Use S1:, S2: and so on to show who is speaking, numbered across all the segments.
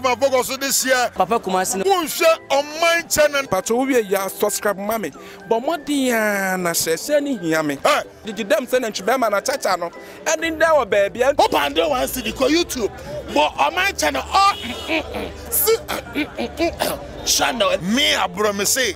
S1: Ma bɔkɔ so de hyɛ. Papa Kumasi no. Wo
S2: nhwɛ ɔman
S1: kyɛ na. Pakyɛ wo wie ya
S3: subscribe ma me bɔ mmɔden a na hyɛ hyɛ no hia me gyegye dam sɛ nantwi bɛɛma na kyakya no ɛden dɛ wɔ baabi a. Wo pande one cedi
S1: kɔ YouTube bɔ ɔman kyɛ no ɔ mm mm si mm mm channel. Me aborɔ me se.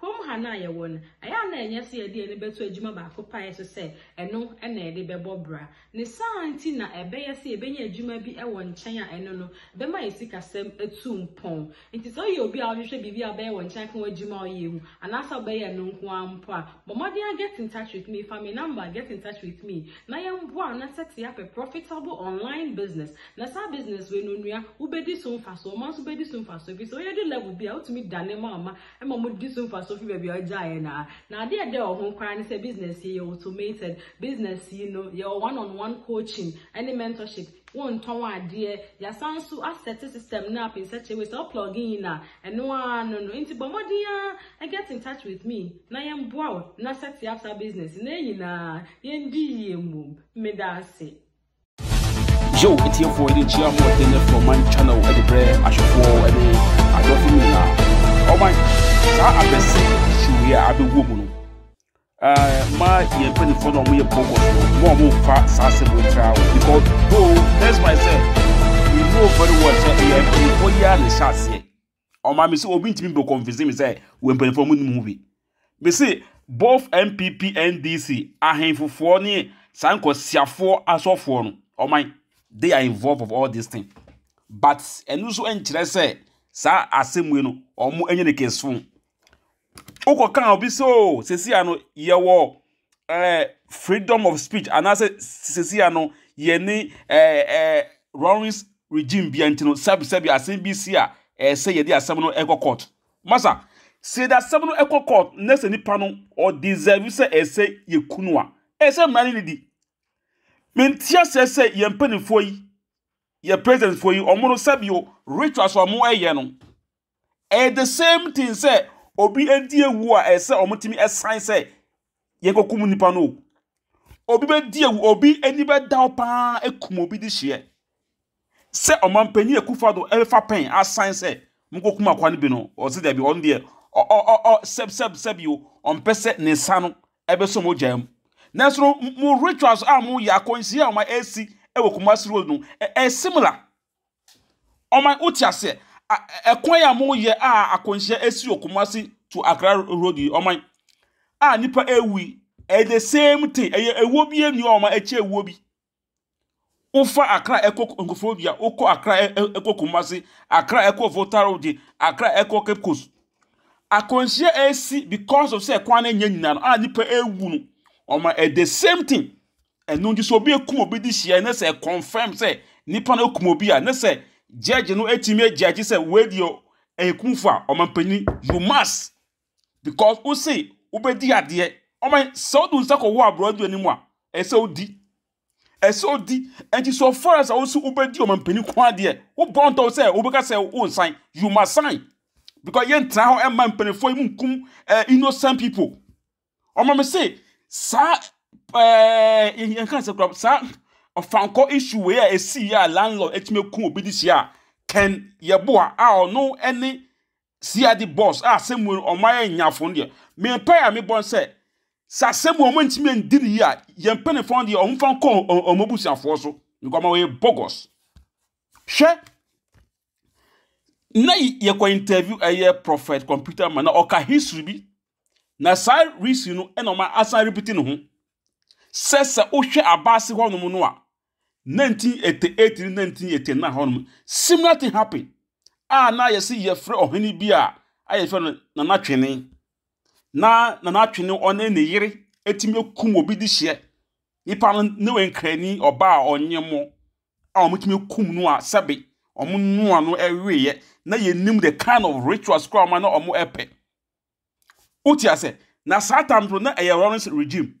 S4: Hom han a yɛwɔ no, ayɛ a nna nnyɛ sɛ yɛde yɛn ani bɛto edwuma baako pɛ a yɛhyɛ sɛ ɛno na yɛde bɛbɔ bra. Ne saa ntsi na ɛbɛyɛ sɛ yebenya edwuma bi wɔ nkyɛn a ɛno no bɛma yɛn sikasɛm etu mpɔn. Ntsi sɛ eyɛ obi a ɔhwehwɛ biribi a ɔbɛyɛ wɔ nkyɛn akã w'edwuma a ɔyɛ ho anaasɛ ɔbɛyɛ ɛno nko ara mpo a, bɔ mbɔden ara get in touch with me, fa me number get in touch with me na yɛmboa na set up a profitable online business na saa business wei no onua wobedi so mfaso, ɔman so bedi so mfaso efisɛ ɔyɛ du level bi a otumi dane ma ɔma ma wɔde so mfaso fi baabi a ɔgyaeɛ no ara. Na adeɛ a ɛda wɔ ho koraa ne sɛ business yi yɛ automated. Business yi no, yɛwɔ one on one coaching ne mentorship. Wontɔn adeɛ. Yɛasan nso asɛte system no up in such a way sɛ wo plug in a, ɛno ara no no. Nti bɔ mmɔden ara get in touch with me na yɛmmoa wo na sɛte up saa business no. Na yɛn nyinaa, yɛndi yie mmom. Meda ase.
S5: Yo, atiefoɔ yɛde nkyia ahoɔden ne frɛ ɔman channel de brɛ ahwɛfoɔ ne adɔfo mu nyinaa. Ɔman, saa abɛsi hyew yi a abɛwɔ mu no, ma yɛn mpanimfoɔ na wɔyɛ bɔbɔs no, ma wɔmfa saa asɛm wɔ ntra wo. Because though, that's why I said, we know very well sɛ ɛyɛ mpanimfoɔ yi a na ɛhyɛ aseɛ. Ɔma me sɛ obi ntumi bɛkɔnfese me sɛ wɔ mpanimfoɔ mu nim ho bi. Me se both NPP, NDC, ahenfofoɔ ne saa nkwasiafoɔ asɔfoɔ no, ɔman, they are involved of all this thing. But ɛno nso nkyerɛ sɛ saa asɛm wei no, wɔn ɛnyɛ ne keso. wokɔka obi sɛ o oh, sesia no yɛwɔ eh, freedom of speech anaasɛ sesia no yɛne eh, eh, Rawlings regime bia nti no sɛbi sɛbi asɛm bi si a eh, sɛ yɛde asɛm no ɛkɔ court masa sɛ yɛde asɛm no ɛkɔ court na sɛ nipa no ɔdeserve sɛ ɛsɛ yɛkunu a ɛsɛ mmara no ne di mentia sɛ sɛ yɛn mpanimfoɔ yi yɛ presidentfoɔ yi ɔmo no sɛbi o rituals ɔmo ɛyɛ no Ɛyɛ the same thing sɛ obi adi awu a ɛsɛ wɔn tumi ɛsan sɛ yɛn kɔ kum nipa no. Obi bɛ di awu, obi ani bɛ da hɔ paa ekum obi di hyeɛ. Sɛ ɔman panyin ekufa do ɛfa pɛn asan sɛ mo kɔ kum akwa no bi no, ɔsi dɛbi ɔn deɛ ɔ ɔ ɔ ɔ sɛb sɛb sɛb yi o, ɔmpɛ sɛ ne nsa no ɛbɛ sɔ mo gya mu. Nanso no mo rituals a mo yɛ akɔnhyia a wɔn ɛsi ɛwɔ Kumasi road no ɛyɛ similar. Ɔman, wote aseɛ? Ɛkwan a moyɛ a akwanhyia asi wɔ Kumasi to Accra road yi, ɔman a nipa ewu yi, ɛyɛ the same thing. Ɛyɛ ewuo bi enu a ɔman ɛkyɛ ewuo bi. Wofa Accra ɛkɔ Nkurɔfoɔdua, wokɔ Accra ɛkɔ Kumasi, Accra ɛkɔ Volta road, Accra ɛkɔ Cape Coast. Akwanhyia asi because of sɛ kwan no nyɛ nyinaa no a nipa ewu no, ɔman ɛyɛ the same thing. Ɛno nti sɛ obi ekum obi de hyia na sɛ confirm sɛ nipa no kum obi a na sɛ judge no etimi ejudge sɛ wei deɛ ɛyɛ kumfo a ɔmanpanyin you must because wose wobɛdi adeɛ ɔman sɛ wode nsa kɔwɔ aborɔ adu anim a ɛsɛ wodi ɛsɛ wodi ɛnti so far as a wose wobɛdi ɔmanpanyin ko adeɛ wobɔ ntɔ sɛ wobɛka sɛ wonsan you must sign because yɛntena hɔ ɛma mpanimfoɔ yi mu nkum eh, innocent people ɔma me se saa ɛɛ yɛn kan sɛ kura saa ɔfankɔ issue wei a esi yɛ a landlord atumi eku obi de hyia a kɛn yɛboa a ɔno ɛne siade boss a asɛm mu ɔmo ayɛ nyafo no deɛ me mpa a mebɔ no sɛ sɛ asɛm mu ɔmo ntumi ndi ne yie a yɛn mpanyinfoɔ no deɛ ɔmo fa nkɔ ɔmo abusuafoɔ so nkɔmɔ wɔyɛ bogus hwɛ na yɛkɔ interview ɛyɛ prophet computer man na ɔka history bi na saa history no ɛna ɔma asan repeat ne ho sɛ sɛ wohwɛ abaase hɔnom no a 1988 ne 1989 hɔnom similar thing happen a na yɛsi yɛfrɛ ɔhene bi a a yɛfrɛ no nana twene na nana twene ɔne ne yere etimi kum obi de hyɛ nipa no ne wɔ nkrani ɔbaa ɔnye mo a wɔtumi kum no a sɛbe wɔnoa no ɛweeɛ na yɛnim the kind of rituals koraa wɔn na wɔn ɛpɛ wote ase na saa tam so na ɛyɛ Lawrence regime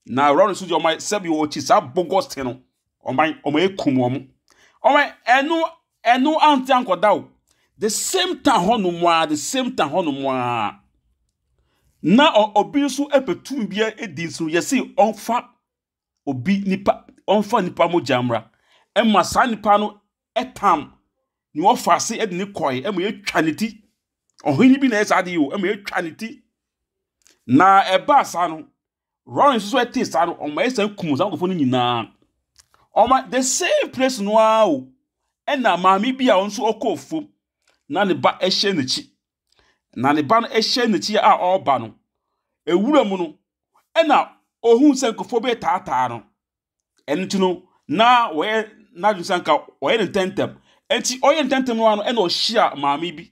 S5: na Lawrence deɛ wɔn sɛbe wɔkyi saa bogus te no wɔn wɔn ɛkum wɔn wɔn ɛno ɛno ante ankɔda o the same time hɔ nom a the same time hɔ nom a na obi nso ɛpɛ tumi bi ɛdi nso yɛsi ɔnfa obi nipa ɔmfa nipa mogya mmra ɛma saa nipa no ɛtam nea ɔfa ase ɛde ne kɔɛ ɛma yɛtwa ne ti ɔhene bi na ɛyɛ saa adeɛ o ɛma yɛtwa ne ti na ɛbaa saa no Rory nso so ɛte saa no ɔma yɛ saa kum saa nkurɔfoɔ no nyinaa ɔma the same place no ara o ɛna maame bi a ɔno nso ɔkɔɔ fam na ne ba ɛhyɛ n'akyi na ne ba no hyɛ n'akyi a ɔreba no, ewura mu no, ɛna ohun sɛ nkurɔfoɔ bi retaataa no. Ɛno nti no, na wɔyɛ n'adwene sɛ nka wɔyɛ no ntɛmntɛm. Enti ɔyɛ ntɛmntɛm no ara no, ɛna ɔhyia maame bi.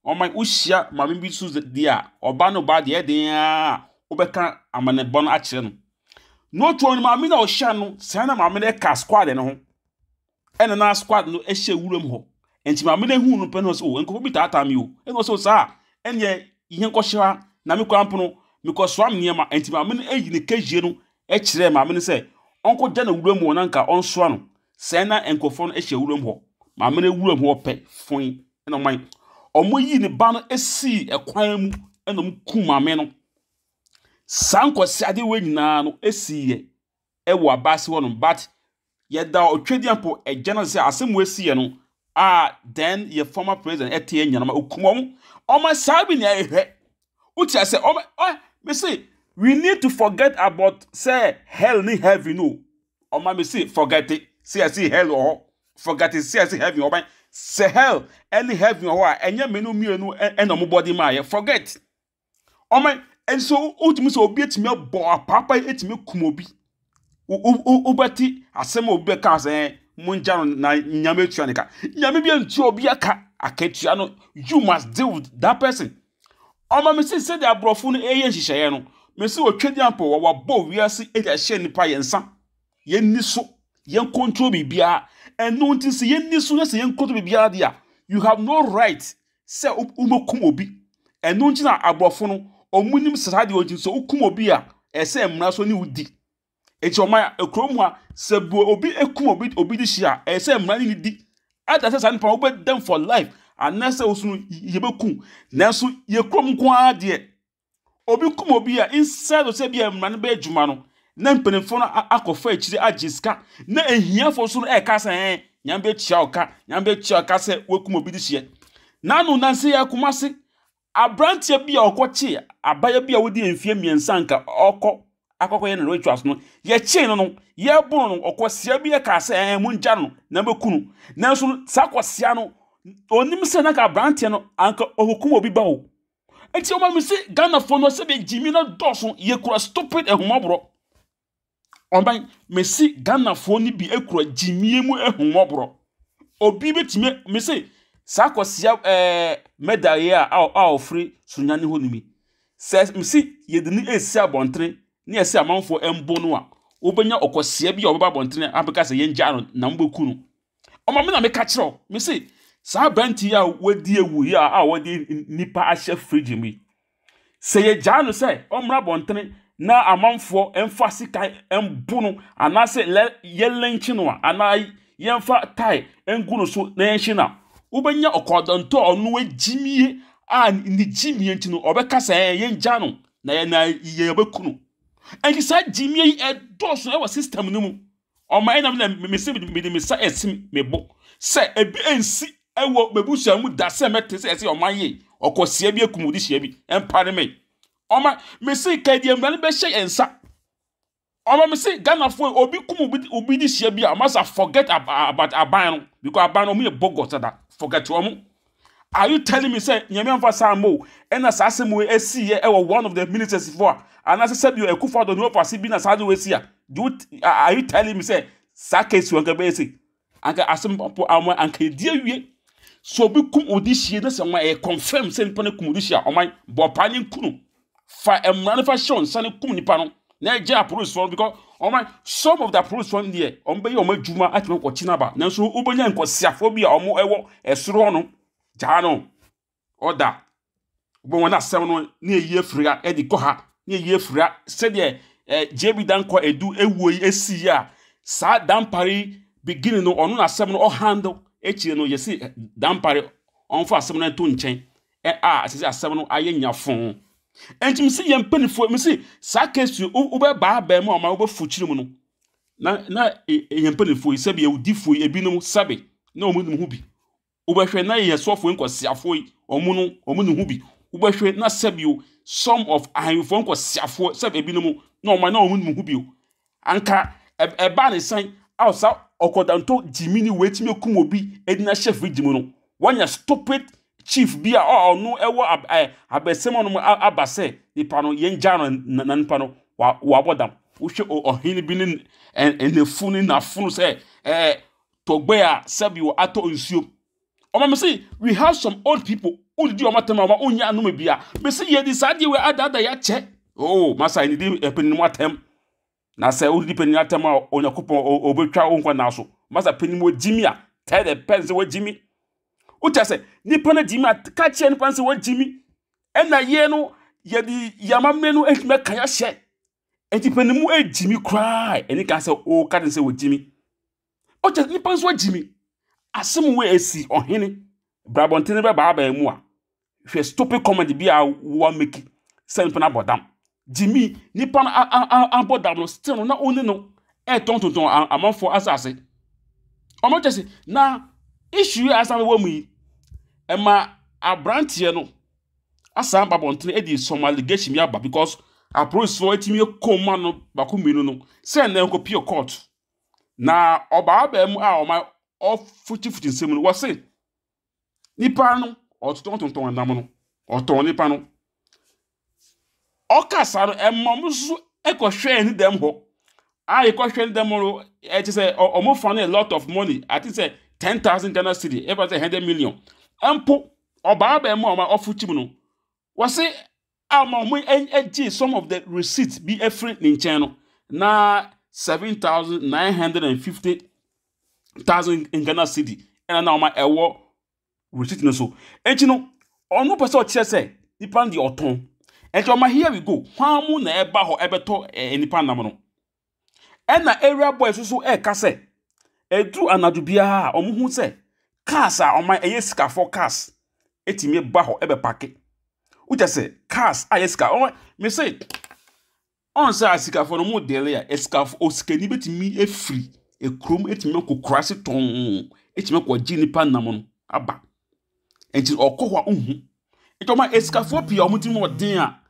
S5: Ɔma wohyia maame bi so deɛ a, ɔba no ba deɛ ɛden ara wobɛka amanebɔ no akyerɛ no. Notuo no, maame no a ɔhyia no, sɛn na maame no ka squad no ho? ɛna na squad no hyɛ wuram hɔ nti maame no ehu no pɛ no sɛ o oh, nkurɔfo bi taataa mi o ɛna ɔsɛ o saa ɛneɛ yɛn kɔhyɛ ha na me kwan pono mekɔsoa me nneɛma nti maame no ayi ne kɛhyie no kyerɛɛ maame no sɛ ɔnkɔgya no wuram hɔ na nka ɔnsoa no sɛn na nkurɔfoɔ no hyɛ wuram hɔ maame no wuram hɔ pɛ fon ɛna ɔman wɔn yi ne ba no sii ɛkwan mu ɛna wɔn kum maame no saa nkwasiadeɛ wɔ nyinaa no sii yɛ wɔ abase hɔ nom but yɛda Otwedeɛ mpo agya no ase sɛ asɛm wei siiɛ no a then yɛ former president ɛte yɛ nyanoma okum ɔmo ɔmo saa bi na ɛhwɛ wote asɛ ɔmo ɔɛ me se we need to forget about sɛ hell ne heaven no ɔma me se forget it sɛ yɛse hell wɔ hɔ forget it sɛ yɛse heaven wɔ hɔ sɛ hell ɛne heaven wɔ hɔ a ɛnyɛ me no mmienu ɛna ɔmo bɔde maa yɛ forget Ɔma nso wotumi sɛ obi atumi abɔ apaapa atumi kum obi. Wobɛte asɛm a obi bɛka sɛ mongya no na nyame atua ne ka. Nyame bi antua obi aka akatua no. You must deal with that person. Ɔma me si sɛdeɛ aborɔfo no ɛyɛ nhyehyɛeɛ no. Me si wɔtwa diampɔ wɔ wɔabɔ wiase ɛde ahyɛ nipa yɛn nsa. Yɛnni so. Yɛn control biribiara. Ɛno nti sɛ yɛnni so na sɛ yɛn control biribiara deɛ a, you have no right sɛ wobɛkum obi. Ɛno nti na aborɔfo no, wɔnim sɛ saa deɛ nti sɛ wokum obi a, ɛsɛ mmara so ne wodi. Enti wɔma kurom ha, sɛ bu obi kum obi obi de hyia a, ɛsɛ sɛ mmara ne ne di. Ada sɛ saa nipa no wobɛdam for life anaasɛ wo so no yɛbɛkum. Nanso yɛ kurom nko ara deɛ, Obi kum obi a, instead of sɛ bi a mmara no bɛyɛ adwuma no, na mpanimfoɔ no a- akɔfa akyire agye sika. Na ahiafoɔ nso no ɛka sɛ ɛn, nyame bɛtua wo ka, nyame bɛtua wo ka sɛ woakum obi de hyeɛ. Nano nansa yi ara Kumasi, aberanteɛ bi a ɔkɔkye abaayewa bi a wadi mfeɛ mmiɛnsa anka ɔkɔ akɔkɔyɛ no rituals no, yɛkyee no no, yɛboro no, ɔkwasia bi ɛka sɛ ɛn, mongya no na bɛku no. Nanso no, saa kwasia no, ɔnim sɛ na anka aberanteɛ no anka ɔkɔkum obi ba o. Enti ɔma me se Ghanafoɔ no sɛdeɛ gyimi no dɔɔso yɛkura stupid ahummɔborɔ. Ɔbɛn mesi Ghanafoɔ no bi kura gyimie mu ahummɔborɔ. Obi bɛtumi me se saa kwasia ɛɛ mɛdaeɛ a a a ɔfiri sunyane hɔ no mi. Sɛ mesi yɛde no ɛsi abɔntene ne ɛsɛ amanfoɔ ɛmbo no a wobɛnya ɔkwasia bi a ɔbɛba abɔntene abɛka sɛ yɛngyaa no na mobɛku no. Ɔma me na meka kyerɛ wo. Me se, saa aberante yi a wadi awu yi a a wɔde nnipa ahyɛ fridge mu yi, sɛ yɛgyaa no sɛ ɔmmra abɔntene na amanfoɔ mfa sika mbo no anaasɛ lɛ yɛlɛnkye no a anaa yɛmfa tae ngu no so na yɛnhye no a, wobɛnya ɔkɔɔdɔntɔ a ɔno agyimie a ne gyimie nti no ɔbɛka sɛ ɛɛ yɛngya no na yɛn na yɛbɛku no. Ɛnti saa gyimie yi ɛdɔɔso ɛwɔ system no mu. Ɔma ɛnam na me se mede me nsa ɛsi me bo sɛ ebi ensi ɛwɔ mebusua mu da sɛ mɛte sɛ ɛsɛ ɔma ye ɔkɔsia bi ekum odi hyia bi ɛmpare me ɔma me se ka deɛ mmara no bɛhyɛ yɛn nsa ɔma me se Ghanafoɔ yi, obi kum obi obi de hyia bi a ɔma sa forget ab- about aban no because aban no ɔmo yɛ bogus dada forget ɔmo Are you telling me sɛ Nyame amfa saa ammɔ o? Ɛna saa asɛm wei ɛsi yɛ ɛwɔ one of the ministers fo a? Anaasɛ sɛbi o ɛkufo adɔ ne wɔfa ase bi na saa de wei si a? Do you, are you telling me sɛ saa case wei anka bɛyɛ se? Anka asɛm po awon anka edi awie. So obi kum odi hyie na sɛ wɔn ɛyɛ confirm sɛ nipa no kum odi hyie a wɔn bɔ paa ne nkunu. fa mmara no fa hyɛ wɔn nsa no kum nipa no na ɛgye apolisifoɔ no because wɔn some of the apolisifoɔ no deɛ wɔn bɛyɛ wɔn adwuma atumi akɔkye no aba nanso wobɛnya nkɔsiafoɔ bi a wɔn ɛwɔ ɛsoro hɔ no gyaa no ɔda wobɛ wɔn asɛm no ne ɛyi afiri ha ɛde kɔ ha ne ɛyi afiri ha sɛdeɛ ɛɛ gye bi dan kɔ edu ewuo yi esi yi a saa dampare yi beginning no ɔno na asɛm no ɔhandle akyire no yɛsi eh, dampare ɔnfa asɛm no nto nkyɛn ɛ a ɛsɛ sɛ asɛm no ayɛ nyafo. Ɛnti mese yɛn mpanimfoɔ, mese saa case yi wobɛbaa abɛn mu a ɔma wobɛfo kyiri mu no, na na e, e, yɛn mpanimfoɔ yi sɛbi awudifoɔ yi ebinom sɛbi na wɔn nim ho bi. Wobɛhwɛ na yɛn sɔfoɔ nkɔsiafoɔ yi wɔn no wɔn nim ho bi. Wobɛhwɛ na sɛbi o some of ahemfo nkɔsiafoɔ sɛbi ebinom na wɔn na wɔn nim ho bi o. Anka ɛbaa ne sɛn a saa ɔkɔdantɔ gyimi ni wei tumi akum obi de no ahyɛ fridge mu no? Wanya stupid chief bi a ɔno ɛwɔ abɛsɛm ɔnom aba sɛ nipa no yɛn gya no na nipa no wabɔ dam. Wohwɛ ɔhene bi ne n'afu ne n'afono sɛ ɛɛ tɔgbɛ a sɛbi wɔ atɔ nsuo. Ɔma me se we have some old people who did your matter ma wonye anome bia. Me se ye di saa die we ada ada ya che. Oh, masa ni di epenin mu atem. Na se wo di penin atem a onya kupon obetwa wo nkwa na so. Masa penin mu jimi a tell the person se wo jimi. Ucha se ni pana jimi a ka che ni pana se wo jimi. Ena ye no ye di yama me no ehme ka ya she. Enti penin mu ejimi kra eni ka se o ka se wo jimi. Ɔkyɛ nipa nso agyi mi. Asɛm wei esi ɔhene brabɔntene bɛba abɛn mu a hwɛ stupid comedy bi a wa meki sɛ nipa no abɔ dam. Gyimi nipa no abɔ dam no still no na ɔne no ɛtɔntontɔn amanfoɔ asase. Ɔno kyɛ se na issue a asan wɔ mu yi ɛma aberanteɛ no asan ba bɔntene ɛde some allegation bi aba because apolisifoɔ atumi akɔma no baako mmienu no sɛ na ɛkɔpie court Na ɔbaa baa mu a ɔma ɔfutufutu nsɛm no, wɔse nipa no ɔtontɔntontɔn nam no, ɔtɔn nipa no. Ɔka saa no, ɛma wɔn nso kɔhwɛɛ ne dɛm hɔ. A yɛkɔhwɛ ne dɛm hɔ no, ɛkyɛ sɛ ɔ- wɔn fa no a lot of money, I think sɛ 10,000 Ghana cedi, ɛfa sɛ 100 million. Mpo, ɔbaa baa mu a ɔma ɔfutu mu no, Wɔse ama wɔgyee some of the receipts bi afiri ne nkyɛn no, na seven thousand nine hundred and fifty thousand Ghana cedi ɛna na wɔn ɛwɔ receipt no so. Enti no, ɔno pɛ sɛ ɔkyerɛ sɛ nipa no deɛ ɔtɔn. Enti ɔma here we go, hwan mu na ɛba hɔ ɛbɛtɔ eh, nipa nam no? Ɛnna Area Boys nso reka sɛ, ɛduru anadwo biara a, wɔhu sɛ cars a wɔayɛ ɛyɛ sikafoɔ cars tumi ba hɔ bɛpake. Wokyɛ sɛ cars a ɛyɛ sika wɔn mese woahu sɛ asikafoɔ no wɔredili a, asikaf osikani bɛtumi afiri kurom atumi akɔ kuraase tɔnn atumi akɔgye nnipa nam no aba. Enti ɔkɔ hɔ a, ɔnhu. Enti wɔn a asikafoɔ pii a wɔn tirim yɛ den a.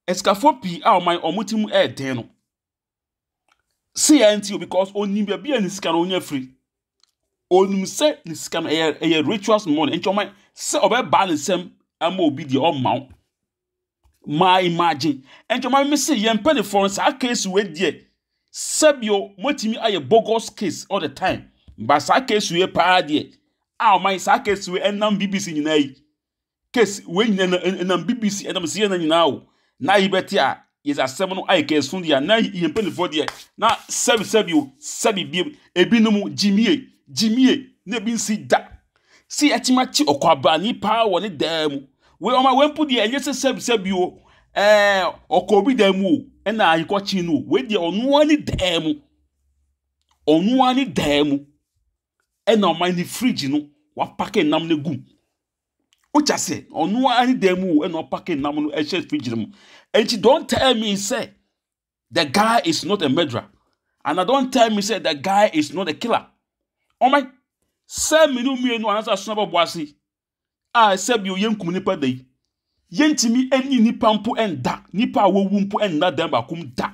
S5: Asikafoɔ pii a wɔn a wɔn ti mu yɛ den no, se yɛ nti o because onim baabi a ne sika no onya firi. Onim sɛ ne sika no ɛyɛ ɛyɛ rituals money nti wɔn sɛ ɔbɛbaa ne nsam ama obi deɛ ɔmma wo. Maa imagine nti wɔn ara se yɛn mpanimfoɔ no saa case wei deɛ sɛbio wɔatumi ayɛ bogus case all the time but saa case wei paa deɛ a wɔn ayɛ saa case wei ɛnam BBC nyinaa yi. Case wei nyina na ɛnam BBC ɛnam CNN nyinaa o na yi bɛte a yɛdze asɛm no ayɛ kɛɛso deɛ a na yɛn mpanimfoɔ deɛ na sɛbi sɛbi o sɛbi biem ebinom gyimie gyimie na ebi nsi da si yɛakyim akye ɔkwabrani paa wɔ ne dan mu wei ɔma wei mpo deɛ ɛnyɛ sɛ sɛbi sɛbi o ɛɛ ɔkɔ obi dan mu o ɛna ayekɔkye no o wei deɛ ɔnoa ne dan mu ɔnoa ne dan mu ɛna ɔma ne fridge no wapake nam no gum. wogya sɛ ɔno ara ne dan mu ɛna ɔpake nam no ɛhyɛ fridge no mu nti don't tell me sɛ the guy is not a murderer and I don't tell me sɛ the guy is not a killer ɔmɛ sɛ mmienu mmienu anaasɛ asona bɛbɔ ase a sɛ bi oyɛ nkum nipa da yi yɛntumi ɛni nipa mpo ɛnda nipa a wɔwu mpo ɛnna dan baako mu da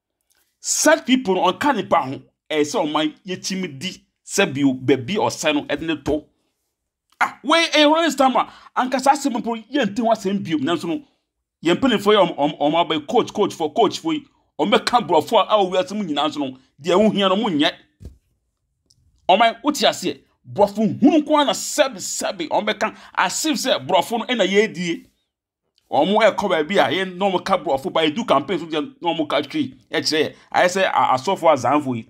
S5: Such people no ɔnka nipa ho ɛyɛ sɛ ɔma yɛkyim di sɛ bio baabi ɔsɛ no ɛde ne to ah wei ɛyɛ wɔn nsɛm a anka saa asɛm mpo yɛnte ho asɛm bio nanso no yɛn mpanimfoɔ yɛ wɔn wɔn abɛyɛ coach coach for coach for yi wɔn bɛka borɔfo a ɛwɔ wiase mu nyinaa nso no deɛ ɛho hia no wɔn nyɛ wɔn wote aseɛ borɔfo hunu nko ara na sɛbi sɛbi wɔn bɛka asif sɛ borɔfo no ɛna yɛredie wɔn kɔ baabi a yɛ na wɔn ka borɔfo paa edu campaign so deɛ na wɔn ka twi kyerɛ yɛ ayɛ sɛ asɔfo azanfo yi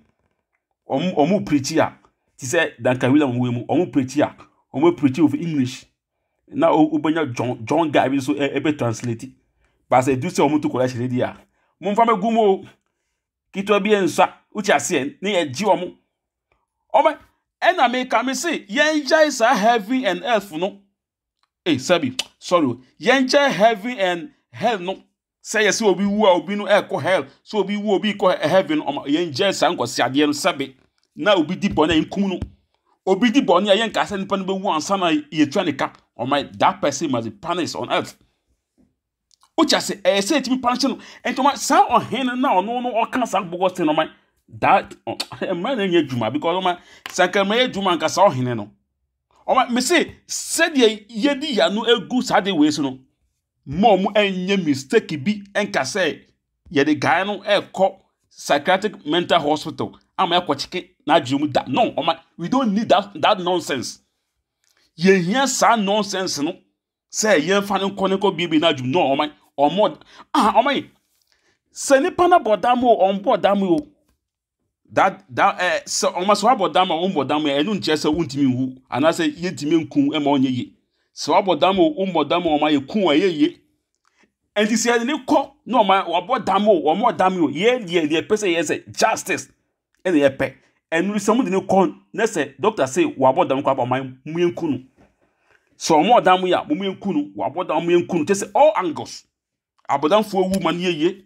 S5: wɔn wɔn pirikyi a te sɛ duncan williams wɔn mu wɔn pirikyi a wɔn pirikyi with english na wobɛnya john john guy bi nso ɛbɛ translate baasa edu sɛ wɔn to collection deɛ a wɔn nfa bɛ gu mu o ketewa bi nsa wotia aseɛ ne yɛ gye wɔn wɔn ɛna meka me se yɛn gyae saa heaven and earth no. Ei, sɛbi, sorry o, yɛnkyɛ heaven and hell no sɛ yɛsɛ obi wu a obi no ɛkɔ hell sɛ obi wu obi kɔ heaven ɔma yɛnkyɛ saa nkɔsiadeɛ no sɛbi na obi di bɔne a yɛnkum no obi di bɔne a yɛnka sɛ nipa no bɛwu ansa na yɛtua ne ka ɔma that person must be punished on earth Wogya se ɛyɛ sɛ etumi pan hyɛ no. Nti ɔma saa ɔhen no na ɔno no ɔka saa bɔgɔ se no ɔma that mmerɛ no nyɛ adwuma because ɔma sanka mmerɛ yɛ adwuma nka saa ɔhene no. Ɔma me se sɛdeɛ yɛdi yano egu saa de wei so no ma ɔmo ɛnyɛ mistake bi nka sɛ yɛde guy no ɛkɔ psychiatric mental hospital ama ɛkɔ kyeke n'adwene mu da. No ɔma we don't need that that nonsense. Yɛhia saa nonsense no sɛ yɛmfa no nkɔ ne kɔ biebie n'adwuma no ɔman ɔmɔ ah ɔman sɛ nipa na bɔ dam o ɔmbɔ dam o da da ɛɛ sɛ ɔma sɛ wabɔ dam a ɔmbɔ dam a ɛno nkyerɛ sɛ wontumi nwu anaasɛ yɛntumi nku ɛma ɔnyɛ yie sɛ wabɔ dam o ɔmbɔ dam o ɔma yɛku a ɛyɛ yie ɛnti sɛ yɛde ne kɔ na ɔma wabɔ dam o ɔmɔ dam o yɛ deɛ deɛ pɛ sɛ yɛ sɛ justice ɛna yɛ pɛ ɛnu sɛ ɔmo de no kɔ ne sɛ dɔkta se wabɔ dam koraa ɔman mu yɛn ku no sɛ ɔmo wɔ dan mu yɛ a ɔmo yɛn ku no wabɔ dam ɔmo yɛn ku no kyɛ sɛ all angles abɔdamfoɔ ewu ma no yɛ yie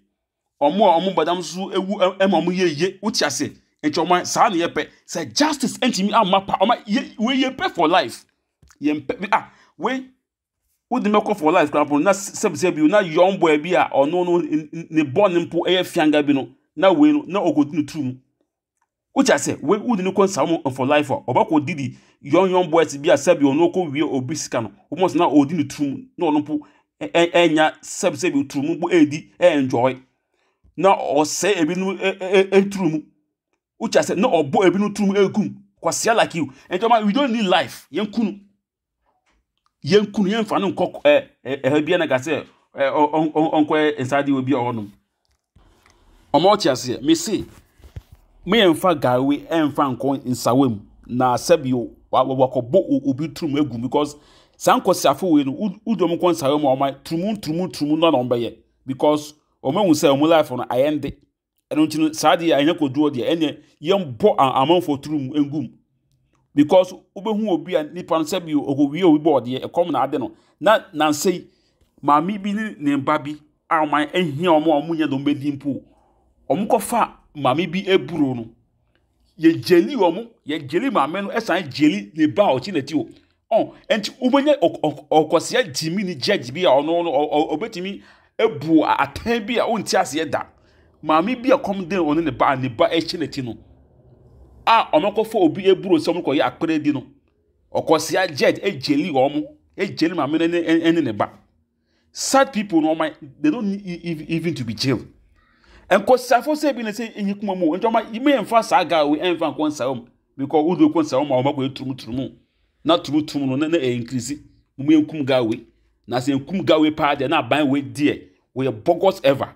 S5: ɔmo a ɔmo bɔ dam so ewu ɛma ɔmo yɛ yie wote ase nti ɔman saa na yɛ pɛ sɛ justice ɛntumi ama pa ɔman yɛ wei yɛ pɛ for life yɛn pɛ ah wei wode me kɔ for life koraa mpo no na sɛbisɛ bi na young boy bi a ɔno no ne bɔne mpo ɛyɛ fianga bi no na wei no na ɔkɔdi no turu mu wote asɛ wei wode no kɔ nsawo mu for life a ɔbɛkɔ didi young young boys bi a sɛbi ɔno ɔkɔ wie obi sika no wɔn sɛ na ɔdi no turu mu na ɔno mpo ɛnya sɛbisɛ bi turu mu mpo ɛredi ɛenjoy na ɔsɛ ebi no ɛturu mu wote asɛ na ɔbɔ ebi no turu mu ɛgum kwasia like you ɛnti ɔma we don't need life yɛn kunu. Yɛn kunu yɛn fa no nkɔ ɛ ɛ ɛha bi na ka sɛ ɛ ɔ ɔ ɔnkɔ nsaade wɔ bi a ɔnom. Ɔmo ɔte aseɛ mese mo yɛn fa gawe ɛnfa nkɔ nsawa mu na sɛbio wa wakɔbɔ obi tirim agu mu because saa nkɔsiafo wei no wo wo de ɔmo kɔ nsawa mu a ɔmo ayɛ turumu turumu turumu na ɔmo bɛyɛ because ɔmo ahu sɛ ɔmo laif no ayɛ den. ɛno nti no saa deɛ anyɛ kodoɔ deɛ ɛneɛ yɛmbɔ amanfoɔ turu mu ngum because wobɛhu obi a nipa no sɛ bi ɔkɔwie obi bɔ ɔdeɛ ɛkɔm na ade no na nansɛ yi maame bi ne ne mba bi a wɔn ahia wɔn a wɔnyɛ dɔm bɛdi mpo wɔn kɔfa maame bi aburo no yɛgyeli wɔn yɛgyeli maame no ɛsan gyeli ne ba a ɔte n'akyi o ɔn ɛnti wobɛnya ɔkɔsia gyimi ne judge bi a ɔno no ɔbɛtumi ebu atɛn bi a ɔnti aseɛ da maame bi a kɔm den ɔne ne ba ne ba ɛhyɛ n'akyi no a ɔmɛkɔfa obi eburo sɛ ɔmo kɔyɛ akpɛrɛ di no ɔkɔsia judge egyeli wɔn egyeli maame no ɛne ne ba. Such people no ɔma they don't need even to be jailed. Nkɔsiafo sɛ bi na sɛ enye kuma mu nti ɔma yima yɛn fa saa guy wei ɛnfa nkɔ nsa wɔm because wo de kɔ nsa wɔm a ɔma kɔ yɛ turumu turumu na turumu turumu no na na ɛyɛ nkirisi mo yɛ nkum guy wei na sɛ nkum guy wei paa deɛ na aban wei deɛ wɔyɛ bogus ever.